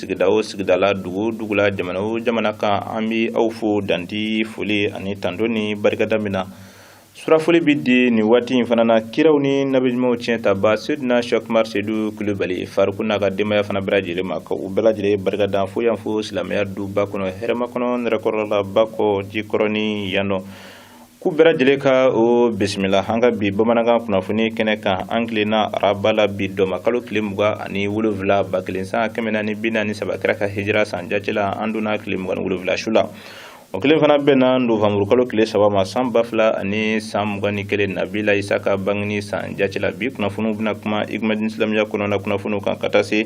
sigida o sigida la dugu o dugu la jamana o jamana kan an bɛ aw fo danti foli ani tanto ni barikada min na surafoli bɛ di nin waati in fana na kiraw ni nabiɲumanw tiɲɛtaba sedina shɛk umari sedu kulubali fariku n'a ka denbaya fana bɛɛ lajɛlen ma ka u bɛɛ lajɛlen barikada fo yan fo silamɛya duba kɔnɔ hɛrɛmakɔnɔ nɛrɛkɔrɔla bakɔ jikɔrɔni yan nɔ k'u bɛɛ lajɛlen ka o bisimila an ka bi bamanankan kunnafoni kɛnɛ kan an tilenna araba la bi dɔnba kalo tile mugan ani wolonwula ba kelen san kɛmɛ naani bi naani saba kira ka hijira san jati la an donna tile mugan ni wolonwula su la o kelen fana bɛnna novanburu kalo tile saba ma san ba fila ani san mugan ni kelen nabila isa ka bangini san jati la bi kunnafoniw bɛna kuma igmadin silamɛya kɔnɔna kunnafoniw kan ka taa se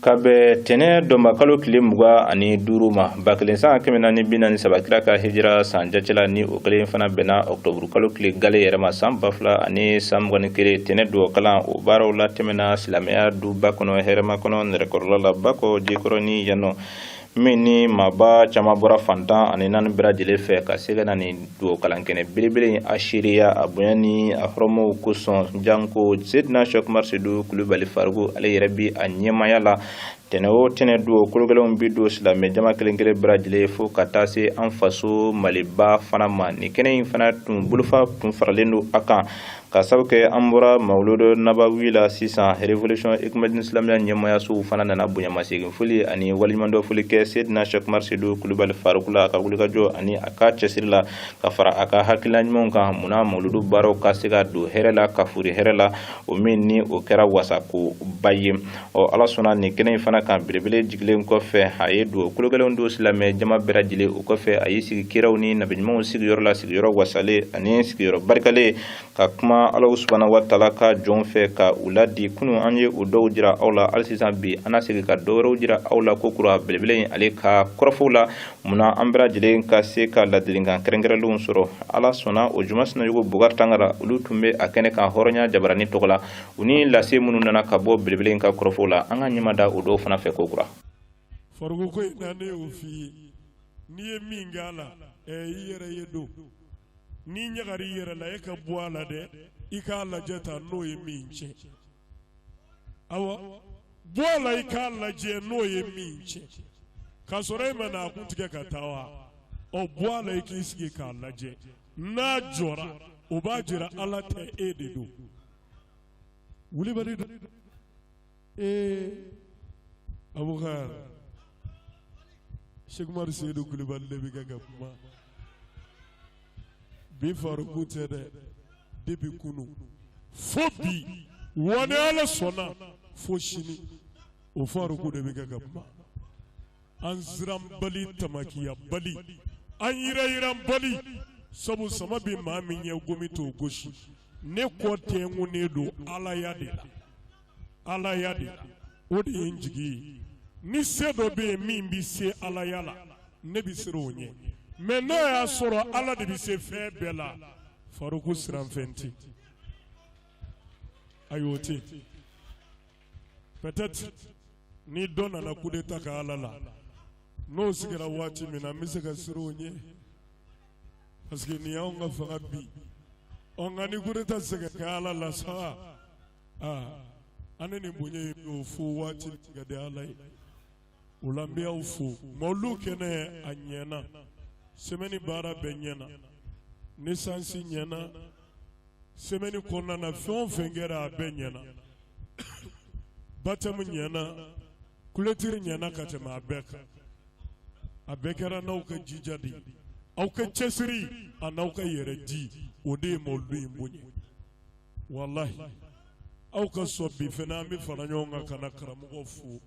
ka bɛn tɛnɛ dɔnbakalo tile mugan ani duuru ma ba kelen san kɛmɛ naani bi naani saba kira ka hijira san jati la ni o kelen fana bɛnna ɔkutɔburukalo tile gale yɛrɛ ma san ba fila ani san mugan ni kelen tɛnɛ duwɔ kalan o baaraw latɛmɛna silamɛya duba kɔnɔ hɛrɛmakɔnɔ nɛrɛkɔrɔla la bakɔ jikɔrɔni yannɔ min ni maaba caman bɔra fan tan ani naani bɛɛ lajɛlen fɛ ka se ka na nin dugawukalankɛnɛ belebele in a seereya a bonya ni a hɔrɔmaw kosɔn janko sedina shɛk umari sedu kulubali fariku ale yɛrɛ bi a ɲɛmaya la tɛnɛ o tɛnɛ duwɔ kologɛlɛnw bi don silamɛ jama kelen kelen bɛɛ lajɛlen ye fo ka taa se an faso maliba fana ma nin kɛnɛ in fana tun bolofa tun faralen don a kan ka sabu kɛ an bɔra mawludu nabawi la sisan révolution igmadin silamɛya ɲɛmayasow fana nana bonyamasegin foli ani waleɲumandɔn foli kɛ sedina shɛk umar sedu kulubali faruku la a ka wulikajɔ ani a ka cɛsiri la ka fara a ka hakilina ɲumanw kan munna mawludu baaraw ka se ka don hɛrɛ la ka foori hɛrɛ la o min ni o kɛra wasako ba ye ɔ ala sɔnna nin kɛnɛ in fana kan belebele jigilen kɔfɛ a ye duwɔ kologɛlɛnw don silamɛ jama bɛɛ lajɛlen o kɔfɛ a y'i sigi kiraw ni nabiɲumanw sigiyɔrɔ la sigiyɔrɔ wasalen ani sigiyɔrɔ barikalen ka kuma ala subanahu wa taala ka jɔnw fɛ ka u ladi kunu an ye o dɔw jira aw la hali sisan bi an na segin ka dɔ wɛrɛw jira aw la kokura belebele in ale ka kɔrɔfɔw la munna an bɛɛ lajɛlen ka se ka ladilikan kɛrɛnkɛrɛnlenw sɔrɔ ala sɔnna o juma sinayogo bokari tangara olu tun bɛ a kɛnɛ kan hɔrɔnya jabarani tɔgɔ la u ni lase minnu nana ka bɔ belebele in ka kɔrɔfɔw la an ka ɲɛma da o dɔw fana fɛ kokura fariku ko in na ne y'o f'i ye n'i ye min k'a la i yɛrɛ ye don n'i ɲaga i yɛrɛ la e ka bɔ a la dɛ i k'a lajɛ ta n'o ye min cɛn aw bɔ a la i k'a lajɛ n'o ye min cɛn k'a sɔrɔ e ma na a kun tigɛ ka taa wa ɔ bɔ a la i k'i sigi k'a lajɛ n'a jɔra o b'a jira ala tɛ e de don wuli bali ee abubakar seku umaru seyidu kulubali de bɛ kɛ ka kuma bi faruku tɛ dɛ depuis kunu fo bi wa ni ala sɔnna fo sini o faruku de bɛ kɛ ka kuma an siran bali tamakiya bali an yiranyiran bali sabu sama bɛ maa min ɲɛ gɔmi t'o gosi ne kɔ tɛnkunnen don ala ya de la ala ya de la o de ye n jigi ye ni se dɔ bɛ yen min bɛ se ala ya la ne bɛ siran o ɲɛ mais n'a y'a sɔrɔ ala de bɛ se fɛn bɛɛ la faruku siranfɛn tɛ ayi o tɛ peut-être ni dɔ nana coup d'état kɛ ala la n'o sigira waati min na n bɛ se ka siran o ɲɛ. parce que nin y'anw ka fanga bin ɔ nka ni coup d'Etat tɛ se ka kɛ Ala la sa aa an ni nin bonya in bɛ o fo waati min ka di Ala ye o la n bɛ aw fo mawuludu kɛnɛ a ɲɛna semaine baara bɛɛ ɲɛna naissance ɲɛna semaine kɔnɔna na fɛn o fɛn kɛra a bɛɛ ɲɛna baptême ɲɛna Clôture ɲɛna ka tɛmɛ a bɛɛ kan a bɛɛ kɛra n'aw ka jija de ye aw ka cɛsiri a n'aw ka yɛrɛ di o de ye mawuludu in bonya walahi aw ka sɔn bi fana an bɛ fara ɲɔgɔn kan ka na karamɔgɔ fo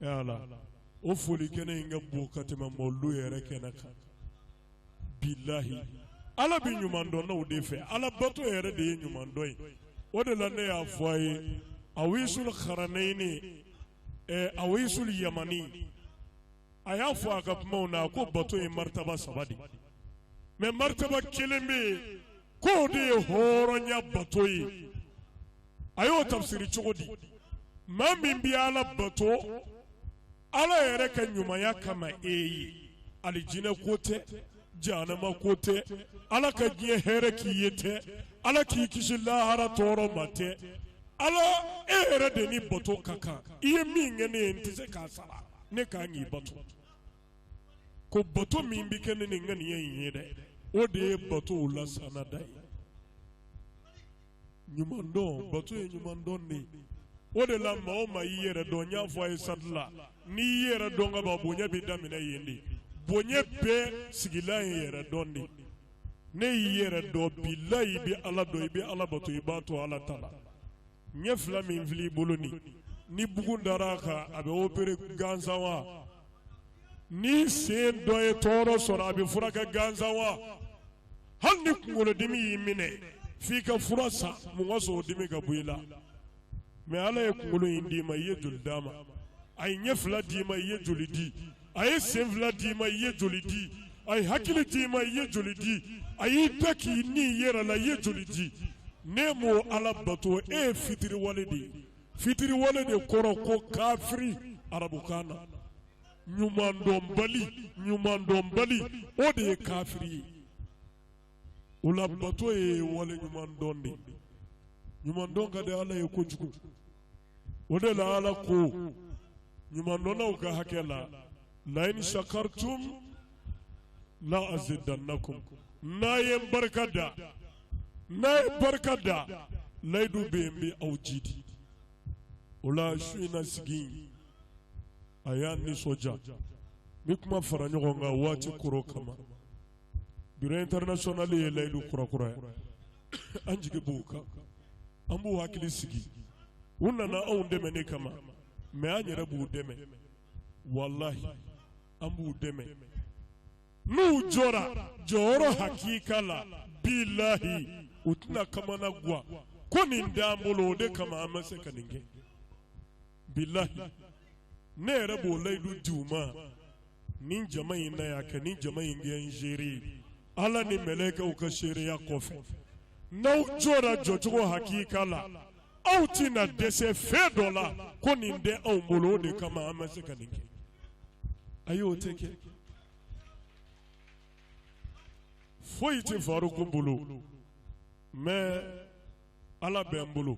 yala o foli kɛnɛ in ka bon ka tɛmɛ mawuludu yɛrɛ kɛnɛ kan bilahi ala bɛ ɲuman dɔnnaw de fɛ ala bato yɛrɛ de ye ɲuman dɔn ye o de la ne y'a fɔ a ye awisul karani awisul yamani a y'a fɔ a ka kumaw na a ko bato ye martaba saba de mais martaba kelen bɛ yen k'o de ye hɔrɔnya bato ye a y'o tafsiri cogo di maa min bɛ ala bato ala yɛrɛ ka ɲumanya kama ayi alijinɛ ko tɛ janama ko tɛ ala ka diɲɛ hɛrɛ k'i ye tɛ ala k'i kisi lahara tɔɔrɔ ma tɛ ala e yɛrɛ de ni bato ka kan i ye min kɛ ne ye n tɛ se k'a sara ne kan k'i bato ko bato min bɛ kɛ ni nin ŋaniya in ye dɛ o de ye bato la sanna dan ye ɲuman dɔn bato ye ɲuman dɔn de o de la maa o maa y'i yɛrɛ dɔn n y'a fɔ a ye sati la n'i y'i yɛrɛ dɔn ka ban bonya bɛ daminɛ yen de bonya bɛɛ sigilan ye yɛrɛ dɔn de n'e y'i yɛrɛ dɔn bilahi i bɛ ala dɔn i bɛ ala bato i b'a to ala ta la ɲɛ fila min filɛ i bolo nin ni bugun dara a kan a bɛ opere gansan wa ni sen dɔ ye tɔɔrɔ sɔrɔ a bɛ furakɛ gansan wa hali ni kunkolodimi y'i minɛ f'i ka fura san mun ka sɔrɔ o dimi ka bɔ i la mɛ ala ye kunkolo in d'i ma i ye joli d'a ma a ye ɲɛ fila d'i ma i ye joli di a ye sen fila d'i ma i ye joli di a ye hakili d'i ma i ye joli di a y'i da k'i ni i yɛrɛ la i ye joli di n'e m'o ala bato e ye fitiriwale de ye fitiriwale de kɔrɔ ko kafiri arabukan na ɲuman dɔnbali ɲuman dɔnbali o de ye kafiri ye o la bato ye wale ɲuman dɔn de ye ɲuman dɔn ka di ala ye kojugu o de la ala ko ɲuman dɔnnaw ka hakɛ la layin sakartum la azidannakum n'a ye n barika da n'a ye n barika da layidu bɛ yen n bɛ aw jiidi o la su in na sigi in a y'an nisɔndiya min kuma fara ɲɔgɔn kan waati kɔrɔ kama bureau international ye layidu kurakura ye an jigi b'u kan an b'u hakili sigi u nana anw dɛmɛni kama mais an yɛrɛ b'u dɛmɛ walahi an b'u dɛmɛ n'u jɔra jɔyɔrɔ hakika la bilayi u tɛna kamanagan ko nin t'an bolo o de kama an ma se ka nin kɛ bilayi ne yɛrɛ b'o layidu di u ma nin jama in na yan ka nin jama in kɛ n seere ala ni mɛlɛkɛw ka seereya kɔfɛ n'aw jɔra jɔcogo hakika la aw tɛ na dɛsɛ fɛn dɔ la ko nin tɛ anw bolo o de kama an ma se ka nin kɛ ayi o tɛ kɛ foyi tɛ faruku bolo mɛ ala bɛ n bolo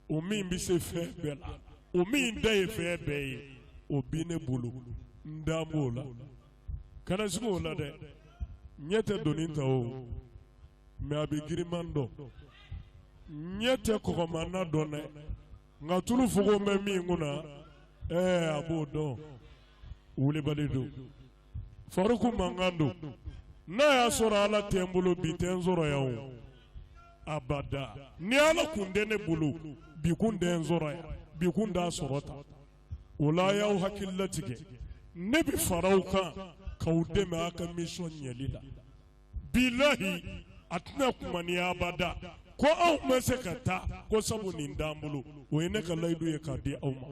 o min bɛ se fɛn bɛɛ la o min ta ye fɛn bɛɛ ye o bi ne bolo n da b'o la kana siga o la dɛ ɲɛ tɛ doni ta o mɛ a bɛ girinman dɔn ɲɛ tɛ kɔgɔma na dɔn dɛ nka tulu fogon bɛ min kun na ɛɛ a b'o dɔn wulibali don faruku mankan don n'a y'a sɔrɔ ala tɛ n bolo bi tɛ n sɔrɔ yan o abada ni ala kun tɛ ne bolo bi kun tɛ n sɔrɔ yan bi kun t'a sɔrɔ ta o la a y'aw hakili latigɛ ne bɛ fara aw kan k'aw dɛmɛ a ka mission ɲɛli la bilahi a tɛna kuma n ye abada ko anw ma se ka taa ko sabu nin t'an bolo o ye ne ka layidu ye k'a di aw ma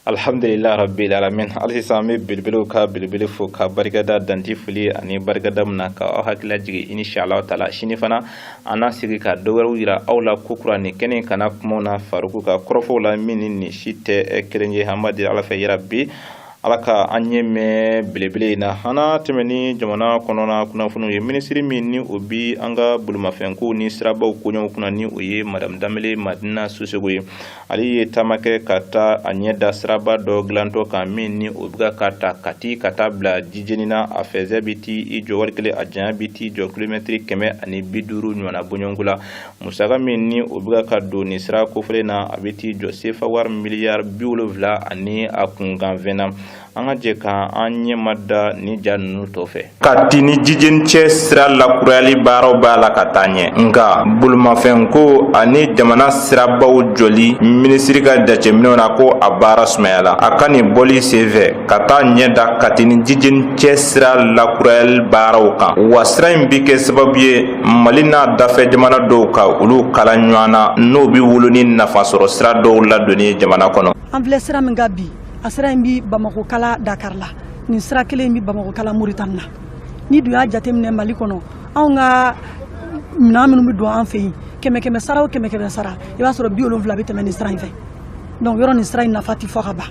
alihamdulila rabbil alamin hali sisan an bɛ belebelew ka belebele fo ka barikada dan tɛ foli ani barikada min na ka aw hakili lajigin insha Allah taala sini fana an na sigi ka dɔ wɛrɛw jira aw la kokura nin kɛnɛ kan a kumaw na faruku ka kɔrɔfɔw la min ni nin si tɛ kelen ye an b'a deli Ala fɛ yarabi ala ka an ɲɛ mɛn belebele in na an na tɛmɛ ni jamana kɔnɔna kunnafoniw ye minisiri min ni o bi an ka bolimafɛnko ni sirabaw koɲɛw kunna ni o ye madamu danbele madina sisɔkɔ ye ale ye taama kɛ ka taa a ɲɛ da siraba dɔ dilantɔ kan min ni o bɛ ka ta kati ka taa bila jijeni na a fɛnsɛ bi t'i jɔ wari kelen a janya bi t'i jɔ kilomɛtiri kɛmɛ ani bi duuru ɲɔgɔnna bɔɲɔgɔnko la musaka min ni o bɛ ka don ni sira kofɔlen na a bɛ t'i jɔ sefa wari miliyari bi wolonwula ani a kunkanfɛn na an ka jɛ ka an ɲɛma da ni ja ninnu tɔ fɛ kati ni jijeni cɛ sira lakurayali baaraw b'a la ka taa ɲɛ nka bolimafɛnko ani jamana sirabaw jɔli minisiri ka jateminɛw na ko a baara sumayala a ka nin bɔli senfɛ ka t'a ɲɛ da kati ni jijeni cɛ sira lakurayali baaraw kan wa sira in bi kɛ sababu ye mali n'a dafɛ jamana dɔw ka olu kala ɲɔgɔn na n'o bɛ wolo ni nafa sɔrɔ sira dɔw ladonni ye jamana kɔnɔ an filɛ sira min kan bi a sira in bɛ bamakɔ kala dakari la nin sira kelen bɛ bamakɔ kala moritani na n'i dun y'a jateminɛ mali kɔnɔ anw ka minɛn minnu bɛ don an fɛ yen kɛmɛ kɛmɛ sara o kɛmɛ kɛmɛ sara i b'a sɔrɔ bi wolonwula bɛ tɛmɛ nin sira in fɛ donc yɔrɔ nin sira in nafa tɛ fɔ ka ban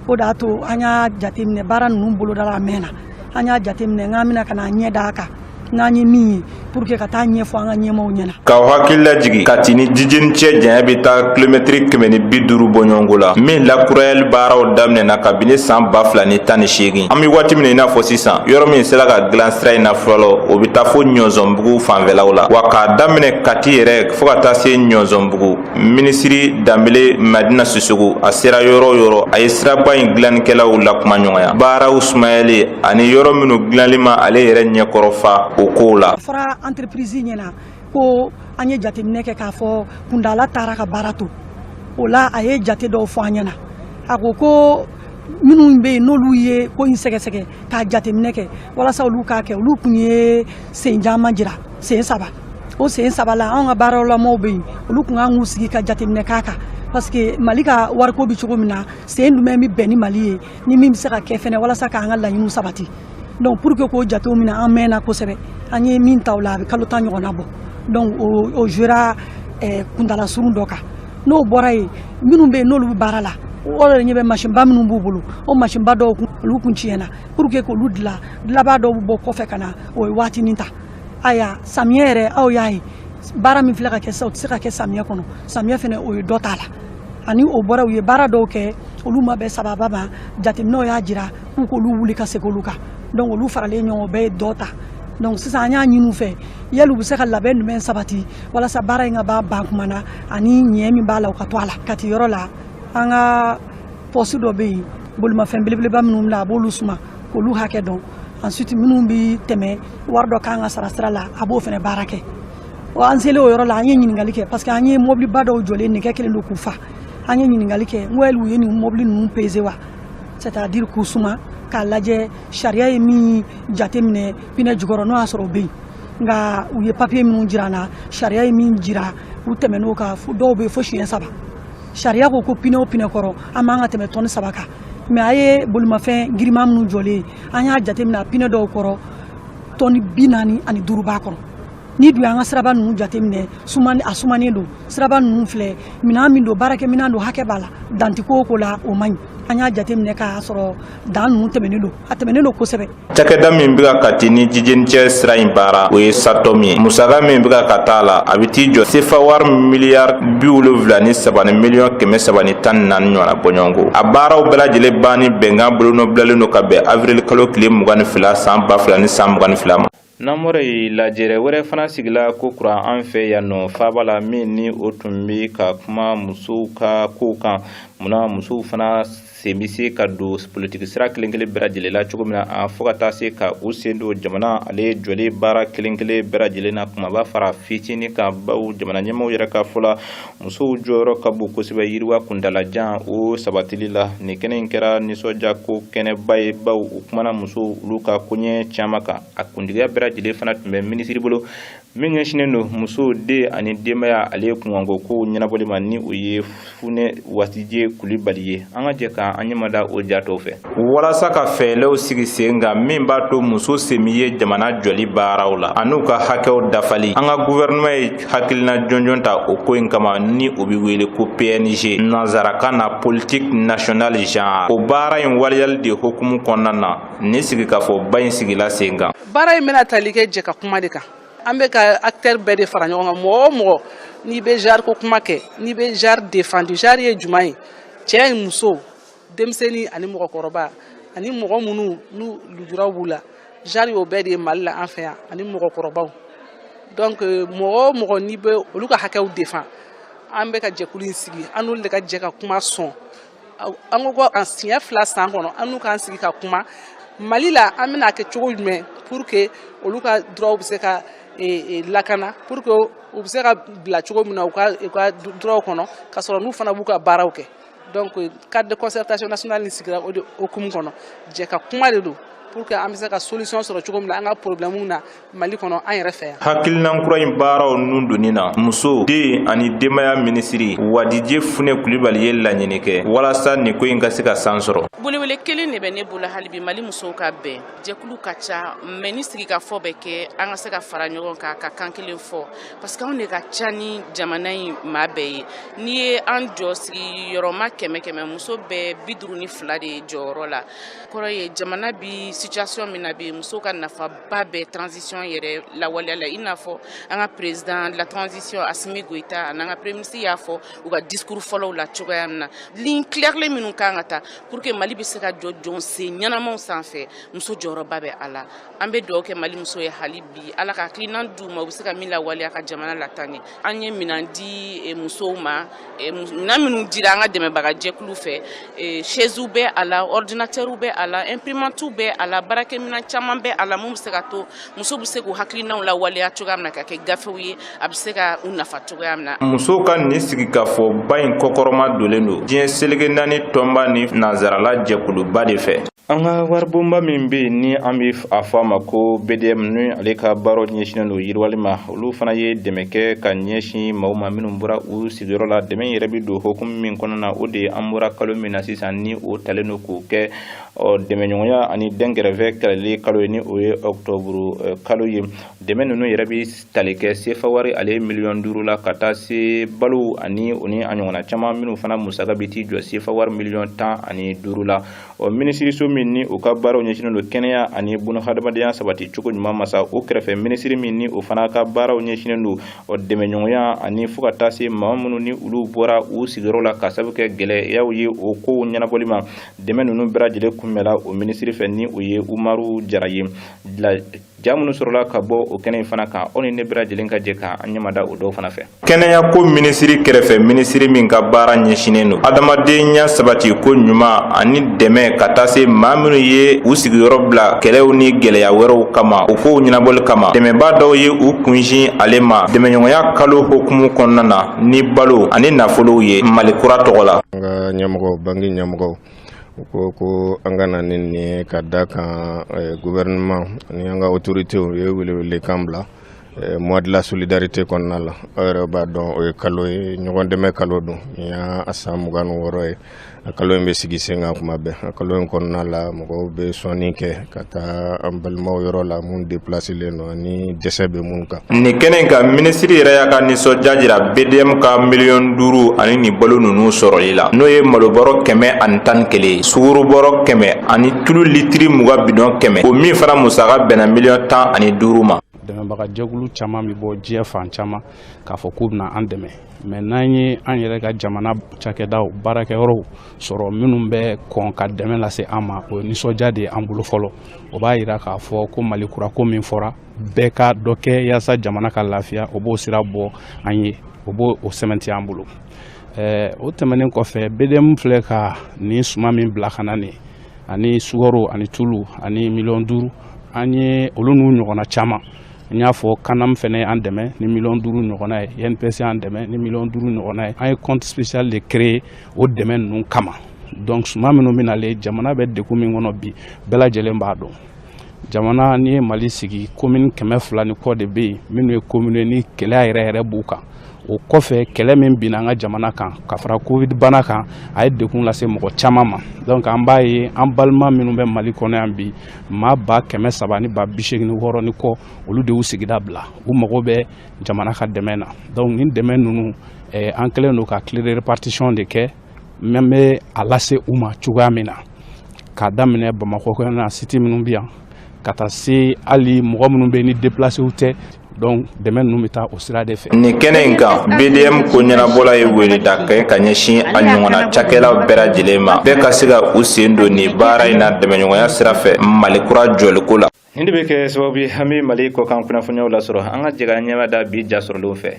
o de y'a to an y'a jateminɛ baara ninnu bolodala a mɛnna an y'a jateminɛ n k'an bɛ na ka n'an ɲɛ d'a kan n'an ye min ye pour que ka t'a ɲɛfɔ an ka ɲɛmaaw ɲɛna k'aw hakili lajigi kati ni jijeni cɛ janya bɛ taa kilomɛtiri kɛmɛ ni bi duuru bɔɲɔgɔnko la min lakurayali baaraw daminɛna kabini san ba fila ni tan ni seegin an be waati min na i n'a fɔ sisan yɔrɔ min sera ka dilan sira in na fɔlɔ o be taa fo ɲɔnsɔnbugu fanfɛlaw la wa k'a daminɛ kati yɛrɛ fo ka taa se ɲɔnsɔnbugu minisiri danbele madina sisɔkɔ a sera yɔrɔ o yɔrɔ a ye siraba in dilannikɛlaw lakumaɲɔgɔnya baaraw sumayali ani yɔrɔ minnu dilanli ma ale yɛrɛ ɲɛkɔrɔ fa o kow la a fɔra entreprise ɲɛna ko an ye jateminɛ kɛ k'a fɔ kuntala tara ka baara to o la a ye jate dɔw fɔ an ɲɛna a ko ko minnu bɛ yen n'olu ye ko in sɛgɛsɛgɛ k'a jateminɛ kɛ walasa olu k'a kɛ olu kun ye sen caman jira sen saba o sen saba la anw ka baaralamaw bɛ yen olu kun kan k'u sigi ka jateminɛ k'a kan parce que mali ka wariko bɛ cogo min na sen jumɛn bɛ bɛn ni mali ye ni min bɛ se ka kɛ fɛnɛ walasa k'an ka laɲiniw sabati donc pour que k'o jatew minɛ an mɛnna kosɛbɛ an ye min ta o la a bɛ kalo tan ɲɔgɔnna bɔ donc o o jouera eh, kuntala surun dɔ kan n'o bɔra yen minnu bɛ yen n'olu bɛ baara la o yɛrɛ ɲɛ bɛ masinba minnu b'u bolo o masinba dɔw kun olu kun tiɲɛna pour que k'olu dilan dilanbaa dɔw bɛ bɔ kɔfɛ ka na o ye waatinin ta ayiwa samiyɛ yɛrɛ aw y'a ye baara min filɛ ka kɛ sisan o tɛ se ka kɛ samiyɛ kɔnɔ samiyɛ fana o ye dɔ t'a la ani o bɔra u ye baara dɔw kɛ olu ma bɛn sababa ma jateminɛw y'a jira k'u k'olu wuli ka segin olu kan donc olu faralen ɲɔgɔn bɛɛ ye dɔ ta donc sisan an y'a ɲini u fɛ yali u bɛ se ka labɛn jumɛn sabati walasa baara in ka b'a ban kuma na ani ɲɛ min b'a la o ka to a la kati yɔrɔ la an ka poste dɔ bɛ yen bolimafɛn belebeleba minnu bila a b'olu suma k'olu hakɛ dɔn ensuite minnu bɛ tɛmɛ wari dɔ kan ka sara sira la a b'o fana baara kɛ wa an selen o yɔrɔ la an ye ɲininkali kɛ parce que an ye mɔbiliba dɔw jɔlen nɛgɛ kɛlen don k'u fa an ye ɲininkali kɛ n ko yali u ye nin mɔbili ninnu peze wa c'est à dire k'u suma k'a lajɛ sariya ye min jateminɛ pinɛ jukɔrɔ n'o y'a sɔrɔ o bɛ yen nka u ye papiye minnu jira an na sariya ye min jira u tɛmɛn'o kan dɔw bɛ fo siɲɛ saba sariya ko ko pinɛ o pinɛ kɔrɔ an man ka tɛmɛ tɔni saba kan mais an ye bolimafɛn girinman minnu jɔlen an y'a jateminɛ a pinɛ dɔw kɔrɔ tɔni bi naani ani duuru b'a kɔrɔ n'i dun y'an ka siraba ninnu jateminɛ sumani a sumanen don siraba ninnu filɛ minɛn min don baarakɛ minɛn don hakɛ b'a la dan tɛ ko o ko la o man ɲi an y'a jateminɛ k'a sɔrɔ dan ninnu tɛmɛnen don a tɛmɛnen don kosɛbɛ cakɛda min bɛ ka kati ni jijeni cɛ sira in baara o ye satom ye musaka min bɛ ka taa a la a bɛ t'i jɔ sefa wari miliyari bi wolonfila ni saba ni miliyɔn kɛmɛ saba ni tan ni naani ɲɔgɔnna bɔɲɔgɔnko a baaraw bɛɛ lajɛlen banni bɛnkan bolonɔbilalen don ka bɛn avril kalo tile mugan ni fila san ba fila ni san mugan ni fila ma Namɔrɔ ye lajɛrɛ wɛrɛ fana sigila kokura an fɛ yan nɔ faaba la min ni o tun bɛ ka kuma musow ka kow kan munna musow fana sen bɛ se ka don politiki sira kelen kelen bɛɛ lajɛlen la cogo min na a fo ka taa se ka u sen don jamana ale jɔli baara kelen kelen bɛɛ lajɛlen na kumaba fara fitinin kan baw jamana ɲɛmaaw yɛrɛ ka fɔ la musow jɔyɔrɔ ka bon kosɛbɛ yiriwa kuntaalajan o sabatili la nin kɛnɛ in kɛra nisɔndiya ko kɛnɛba ye baw u kumana musow olu ka koɲɛ caman kan a kuntigiya bɛɛ lajɛlen fana tun bɛ minisiri bolo min ɲɛsinnen don musow den ani denbaya ale kunkanko kow ɲɛnabɔli ma ni o ye funɛ wadije kulibali ye an ka jɛ ka an ɲɛmada o jatɔw fɛ walasa ka fɛɛlɛw sigi sen kan min b'a to muso sen bɛ ye jamana jɔli baaraw la an'u ka hakɛw dafali an ka guvɛrɛnɛman ye hakilina jɔnjɔn ta o ko in kama ni o bɛ wele ko png nanzarakan na politique nationale genre o baara in waleyali de hukumu kɔnɔna na nin sigikafɔba in sigila sen kan baara in bɛna tali kɛ jɛkakuma de kan an bɛ ka acteur bɛɛ de fara ɲɔgɔn kan mɔgɔ o mɔgɔ n'i bɛ genre ko kuma kɛ n'i bɛ genre défendre genre ye jumɛn ye cɛ ni muso denmisɛnnin ani mɔgɔkɔrɔba ani mɔgɔ minnu n'u lujuraw b'u la genre y'o bɛɛ de ye mali la an fɛ yan ani mɔgɔkɔrɔbaw donc mɔgɔ o mɔgɔ n'i bɛ olu ka hakɛw défend an bɛ ka jɛkulu in sigi an n'olu de ka jɛ ka kuma sɔn an ko an siɲɛ fila san kɔnɔ an n'u k'an sigi ka kuma mali la an bɛna a kɛ cogo jumɛn pour que olu ka droits bɛ se ka e, e, lakana pour que u bɛ se ka bila cogo min na u ka droits kɔnɔ ka sɔrɔ n'u fana b'u ka baaraw kɛ donc cadre de concertation nationale ni sigira o de hukumu kɔnɔ jɛ ka kuma de don pour que an bɛ se ka solution sɔrɔ cogo min na an ka problème na mali kɔnɔ an yɛrɛ fɛ yan hakilinan kura in baaraw nun donni na muso den ani denbaya minisiri wadije fune kulibali ye laɲini kɛ walasa nin ko in ka se ka san sɔrɔ welewele kelen de bɛ ne bolo hali bi mali musow ka bɛn jɛkulu ka ca mais ni sigikafɔ bɛ kɛ an ka se ka fara ɲɔgɔn kan ka kan kelen fɔ parce que anw de ka ca ni jamana in maa bɛɛ ye n'i ye an jɔ sigiyɔrɔma kɛmɛ kɛmɛ muso bɛ bi duuru ni fila de jɔyɔrɔ la kɔrɔ ye jamana bi situation min na bi muso ka nafaba bɛ transition yɛrɛ lawaleya la i n'a fɔ an ka président de la transition asimi goyita ani an ka premier ministre y'a fɔ u ka discours fɔlɔw la cogoya min na ligne claire minnu kan ka ta pour que mali bɛ se ka jɔ jɔnsen ɲɛnamaw sanfɛ muso jɔyɔrɔba bɛ a la an bɛ dugawu kɛ mali muso ye hali bi ala ka hakilinan di u ma u bɛ se ka min lawaleya ka jamana lataa ɲɛ an ye minan di eh, musow ma eh, minan minnu dira an ka dɛmɛbaga jɛkulu fɛ eh, shɛziw bɛ a la ɔridinatɛriw bɛ a la ɛnpirimantiw bɛ a la baarakɛminan caman bɛ a la min bɛ se ka to muso bɛ se k'u hakilinaw lawaleya cogoya min na ka kɛ gafew ye a bɛ se ka u nafa cogoya min na. musow ka nin sigikafɔba in kɔkɔrɔma dolen don diɲɛ seleke naani tɔnba ni nanzarala jɛkuluba de fɛ. an ka waribonba min bɛ yen ni an bɛ a fɔ a ma ko bdm ni ale ka baaraw ɲɛsinnen don yiriwali ma olu fana ye dɛmɛ kɛ ka ɲɛsin maaw ma minnu bɔra u sigiyɔrɔ la dɛmɛ yɛrɛ bɛ don hukumu min kɔnɔna o de ye an bɔra kalo min na sisan ni o talen don k'o kɛ ɔ dɛmɛɲɔgɔnya ani dɛnkɛrɛfɛ kɛlɛli kalo ye ni o ye ɔkutɔburu eh, kalo ye dɛmɛ ninnu yɛrɛ bɛ tali kɛ sefa wari ale miliyɔn duuru la ka taa se balo ani o ni a ɲɔgɔnna caman minnu fana musaka bɛ t'i jɔ sefa wari miliyɔn tan ani duuru la ɔ minisiriso min ni o ka baaraw ɲɛsinnen don kɛnɛya ani bunahadamadenya sabati cogo ɲuman ma sa o kɛrɛfɛ minisiri min ni o fana ka baaraw ɲɛsinnen don ɔ dɛmɛɲɔgɔnya ani fo ka taa se maa minnu ni olu bɔra u sigiyɔrɔ la ka sabu kɛ gɛlɛyaw ye o kow ɲɛnabɔli ma dɛmɛ ninnu bɛɛ lajɛlen kunbɛnla o minisiri fɛ ni o ye umaru jara ye ja minnu sɔrɔla ka bɔ o kɛnɛ in fana kan aw ni ne bɛɛ lajɛlen ka jɛ ka an ɲɛmada o dɔw fana fɛ kɛnɛya ko minisiri kɛrɛfɛ minisiri min ka baara ɲɛsinnen don adamadenya sabati ko ɲuman ani dɛmɛ ka taa se maa minnu ye u sigiyɔrɔ bila kɛlɛw ni gɛlɛya wɛrɛw kama o kow ɲɛnabɔli kama dɛmɛbaa dɔw ye u kunsin ale ma dɛmɛɲɔgɔnya kalo hukumu kɔnɔna na ni balo ani nafolow ye mali kura tɔgɔ la an ka ɲɛmɔgɔ banki ɲɛmɔgɔ u ko ko an ka na ni nin ye ka da kan eh, gouvernement ani an ka autorités u ye welewelekan bila eh, mois de la solidarité kɔnɔna la aw yɛrɛ b'a dɔn o ye kalo ye ɲɔgɔn dɛmɛ kalo don nin y'a san mugan ni wɔɔrɔ ye a kalo in bɛ sigi sen kan kuma bɛɛ a kalo in kɔnɔna la mɔgɔw bɛ sɔnni kɛ ka taa an balimaw yɔrɔ la minnu deplaselen don ani dɛsɛ bɛ minnu kan nin kɛnɛ in kan minisiri yɛrɛ y'a ka nisɔndiya jira bdm ka miliyɔn duuru ani nin balo ninnu sɔrɔli la n'o ye malobɔrɔ kɛmɛ ani tan ni kelen sugurubɔrɔ kɛmɛ ani tulu litiri mugan bidɔn kɛmɛ o min fana musaka bɛnna miliyɔn tan ani duuru ma dɛmɛbagajɛkulu caman bɛ bɔ diɲɛ fan caman k'a fɔ k'u bɛna an dɛmɛ mais n'an ye an yɛrɛ ka jamana cakɛdaw baarakɛyɔrɔw sɔrɔ minnu bɛ kɔn ka dɛmɛ lase an ma o ye nisɔndiya de ye an bolo fɔlɔ o b'a yira k'a fɔ ko mali kura ko min fɔra bɛɛ ka dɔ kɛ yaasa jamana ka lafiya o b'o sira bɔ an ye o b'o o sɛmɛnti an bolo ɛɛ o tɛmɛnen kɔfɛ bdm filɛ ka nin suman min bila ka na nin ani sukaro ani tulu ani miliyɔn duuru an ye olu n'u ɲɔgɔnna caman n y'a fɔ canam fɛnɛ ye an dɛmɛ ni miliyɔn duuru ɲɔgɔnna ye inps y'an dɛmɛ ni miliyɔn duuru ɲɔgɔnna ye an ye compte spécial de créer o dɛmɛ ninnu kama donc suman minnu bɛ nalen jamana bɛ degun min kɔnɔ bi bɛɛ lajɛlen b'a dɔn jamana n'i ye mali sigi komini kɛmɛ fila ni kɔ de bɛ yen minnu ye komini ni gɛlɛya yɛrɛ yɛrɛ b'u kan o kɔfɛ kɛlɛ min binna an ka jamana kan ka fara covid bana kan a ye degun lase mɔgɔ caman ma donc an b'a ye an balima minnu bɛ mali kɔnɔ yan bi maa ba kɛmɛ saba ni ba bi seegin ni wɔɔrɔ ni kɔ olu de y'u sigida bila u mago bɛ jamana ka dɛmɛ na donc nin dɛmɛ ninnu an kɛlen don ka clé de répartition de kɛ mais an bɛ a lase u ma cogoya min na k'a daminɛ bamakɔ kɔnɔna siti minnu bɛ yan ka taa se hali mɔgɔ minnu bɛ ni deplasew tɛ donc dɛmɛ ninnu bɛ taa o sira de fɛ nin kɛnɛ in kan bdm ko ɲɛnabɔla ye wele da kɛ ka ɲɛsin a ɲɔgɔnna cakɛlaw bɛɛ lajɛlen ma bɛɛ ka se ka u sen don nin baara in na dɛmɛɲɔgɔnya sira fɛ mali kura jɔliko la nin de bɛ kɛ sababu ye an bɛ mali kɔkan kunnafoniyaw lasɔrɔ an ka jɛ ka ɲɛ mada bi ja sɔrɔlenw fɛ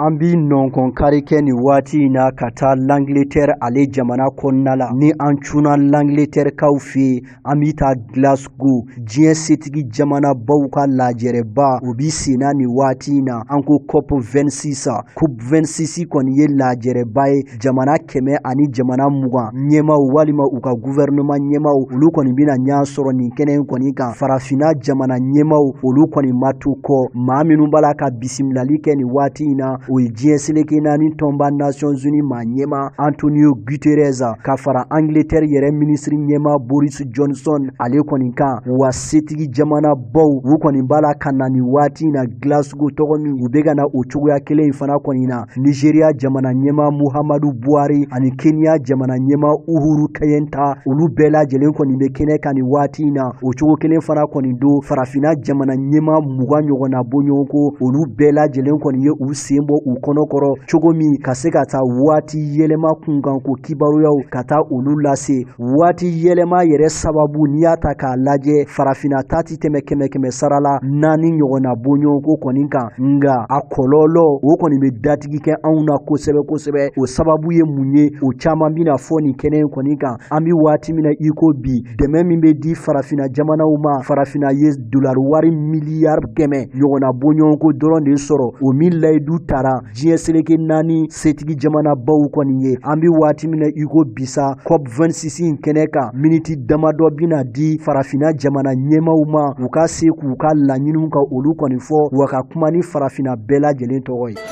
an bi nɔnkɔn kari kɛ nin waati in na ka taa L'Angleterre ale jamana kɔnɔna la ni an cunna L'Angleterre kaw fɛ yen an bɛ taa Glasgow diɲɛ setigi jamanabaw ka lajɛrɛba o bi senna nin waati in na an ko COP 26 a COP 26 kɔni ye lajɛrɛba ye jamana kɛmɛ ani jamana mugan ɲɛmaaw walima u ka gouvernement ɲɛmaaw olu kɔni bɛna ɲɔgɔn sɔrɔ nin kɛnɛ in kɔni kan farafinna jamana ɲɛmaaw olu kɔni ma to kɔ maa minnu b'a la ka bisimilali kɛ nin waati in na o ye diɲɛ seleke naani tɔnba Nations Unies maa ɲɛmaa Antonio Guterres ka fara Angleterre yɛrɛ minisiri ɲɛma Boris Johnson ale kɔni kan wa setigi jamanabaw u kɔni b'a la ka na nin waati in na Glasgow tɔgɔ min u bɛ ka na o cogoya kelen in fana kɔni na Nigeria jamana ɲɛma Muhammadu Buhari ani Kenya jamana ɲɛma Uhuru Kenyatta olu bɛɛ lajɛlen kɔni bɛ kɛnɛ kan nin waati in na o cogo kelen fana kɔni don farafinna jamana ɲɛma mugan ɲɔgɔnna bɔɲɔgɔnko olu bɛɛ lajɛlen kɔni ye u sen bɔ u kɔnɔ kɔrɔ cogo min ka se ka taa waati yɛlɛma kunkan ko kibaruyaw ka taa olu lase waati yɛlɛma yɛrɛ sababu n'i y'a ta k'a lajɛ farafina ta tɛ tɛmɛ kɛmɛ kɛmɛ sara la naani ɲɔgɔnna bɔɲɔgɔnko kɔni kan nga a kɔlɔlɔ o kɔni bɛ datigi kɛ anw na kosɛbɛ kosɛbɛ o sababu ye mun ye o caman bɛna fɔ nin kɛnɛ in kɔni kan an bɛ waati min na iko bi dɛmɛ min bɛ di farafina jamanaw ma farafina ye dolari wari miliyari kɛmɛ ɲɔgɔnna bɔɲɔgɔnko dɔrɔn de sɔrɔ o min layidu tara diɲɛ seleke naani setigi jamanabaw kɔni ye an bɛ waati min na iko bi sa COP 26 in kɛnɛ kan miniti damadɔ bɛna di farafina jamana ɲɛmaw ma u ka se k'u ka laɲiniw ka olu kɔni fɔ wa ka kuma ni farafina bɛɛ lajɛlen tɔgɔ ye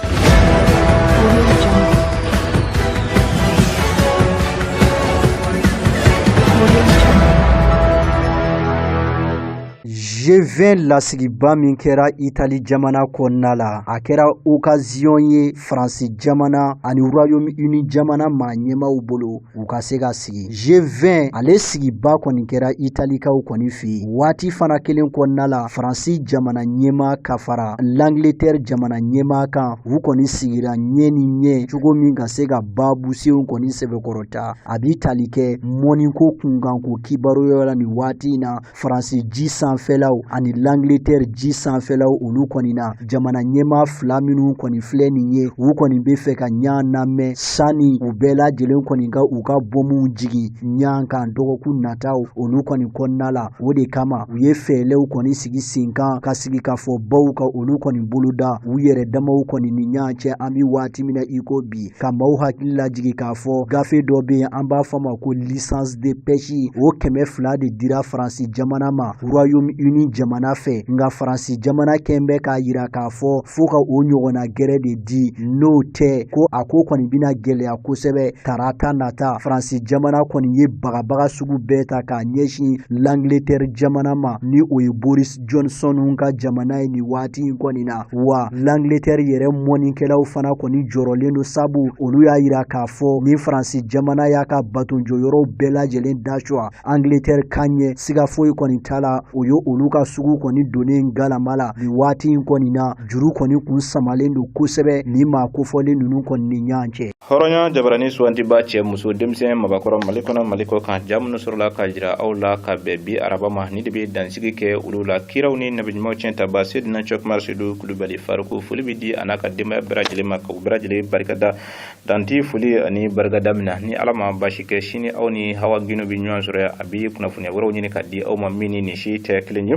G20 lasigiba min kɛra Itali jamana kɔnɔna la, a kɛra occasion ye France jamana ani Royaume Uni jamana maa ɲɛmaaw bolo u ka se ka sigi G20 ale sigiba kɔni kɛra italikaw kɔni fɛ yen waati fana kelen kɔnɔna la faransi jamana ɲɛmaa ka fara l'angleterre jamana ɲɛmaa kan u kɔni sigira ɲɛ ni ɲɛ cogo min ka se ka baabu senw kɔni sɛbɛkɔrɔ ta a bi tali kɛ mɔniko kunkan ko kibaruyaw la nin waati in na faransi ji sanfɛlaw ani langletɛri ji sanfɛlaw olu kɔni na jamana ɲɛma fila minnu kɔni filɛ nin ye u kɔni be fɛ ka ɲan namɛn sanni u bɛɛ lajɛlen kɔni ka u ka bɔmuw jigi ɲan kan dɔgɔkun nataw olu kɔni kɔnɔna la o de kama u ye fɛɛlɛw kɔni sigi sen kan ka sigikafɔbaw ka olu kɔni boloda u yɛrɛ damaw kɔni ni ɲan cɛ an be waati min na i ko bi ka maaw hakili lajigi k'a fɔ gafe dɔ bɛ yen an b'a fɔ ma ko licence de pêche o kɛmɛ fila de dira faransi jamana ma royaume uni jamana fɛ nka faransi jamana kɔni bɛ k'a yira k'a fɔ fo ka o ɲɔgɔnna gɛrɛ de di n'o tɛ ko a ko kɔni bɛna gɛlɛya kosɛbɛ tarata nata faransi jamana kɔni ye bagabaga sugu bɛɛ ta k'a ɲɛsin langletɛri jamana ma ni o ye Boris Johnson ka jamana ye nin waati in kɔni na wa L'Angleterre yɛrɛ mɔnikɛlaw fana kɔni jɔrɔlen don sabu olu y'a yira k'a fɔ ni Faransi jamana y'a ka batonjɔyɔrɔw bɛɛ lajɛlen dasuwa Angleterrekaw ɲɛ siga foyi kɔni t'a la o ye olu ka sugu kɔni donnen galama la nin waati in kɔni na juru kɔni kun samalen don kosɛbɛ nin maa kofɔlen ninnu kɔni ni ɲɔgɔn cɛ hɔrɔnya jabarani suwantiba cɛ muso denmisɛn mabakɔrɔ mali kɔnɔ mali kɔkan ja minnu sɔrɔla ka jira aw la ka bɛn bi araba ma nin de bɛ dansigi kɛ olu la kiraw ni nabiɲumanw cɛntaba sedina cɔkumar sedu kulubali faruku foli bɛ di a n'a ka denbaya bɛɛ lajɛlen ma ka u bɛɛ lajɛlen barikada dan tɛ foli ani barikada min na ni ala ma basi kɛ sini aw ni hawa gino bɛ ɲɔgɔn sɔrɔ a bɛ kunnafoniya wɛrɛw ɲini ka di aw ma min ni nin si tɛ kelen ye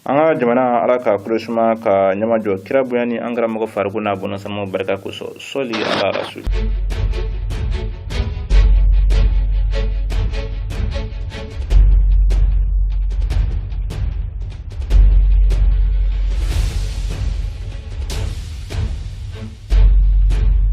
an ka jamana ala ka kolo suma ka ɲɛmajɔ kira bonya ni an karamɔgɔ faruku n'a bɔnasamaw barika kosɔn sɔli ala rasul